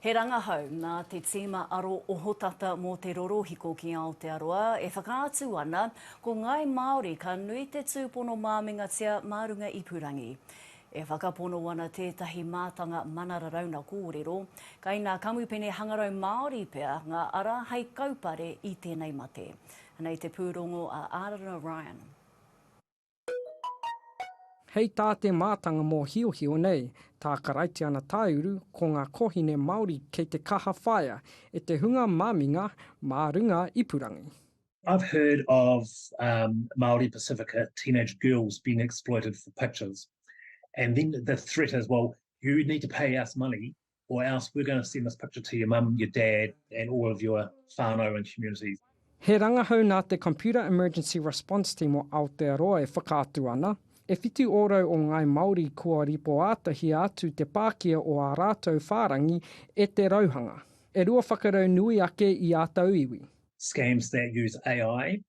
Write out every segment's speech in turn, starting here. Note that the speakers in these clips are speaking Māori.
He rangahau nā te tīma aro ohotata mō te rorohiko ki Aotearoa e whakaatu ana ko ngāi Māori ka nui te tūpono māmingatia mā runga ipurangi. E whakapono ana tētahi mātanga mana raraunga kōrero, kai ngā kamupene hangarau Māori pea ngā ara hei kaupare i tēnei mate. Anei te pūrongo a Arana Ryan. Hei tā te mātanga mōhiohio nei, tā Karaitiana Tāuru ko ngā kōhine Māori kei te kaha whaea e te hunga maminga mā runga ipurangi. I've heard of um Māori Pasifika teenage girls being exploited for pictures and then the threat is well you need to pay us money or else we're going to send this picture to your mum, your dad and all of your whānau and communities. He rangahau nā te Computer Emergency Response Team o Aotearoa e whakaatu ana, e whitu ōrau o Ngāi Māori kua ripoātahia atu te pākia o ā rātou whārangi e te rauhanga, e rua whakarau nui ake i ā tauiwi. Scams that use AI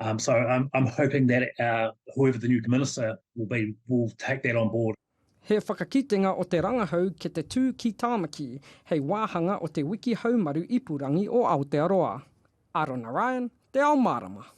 Um, so I'm, I'm hoping that uh, whoever the new minister will be will take that on board. He whakakitenga o te rangahau ki te tū ki Tāmaki hei wāhanga o te wiki haumaru ipurangi o Aotearoa. Arona Ryan, Te Ao Mārama.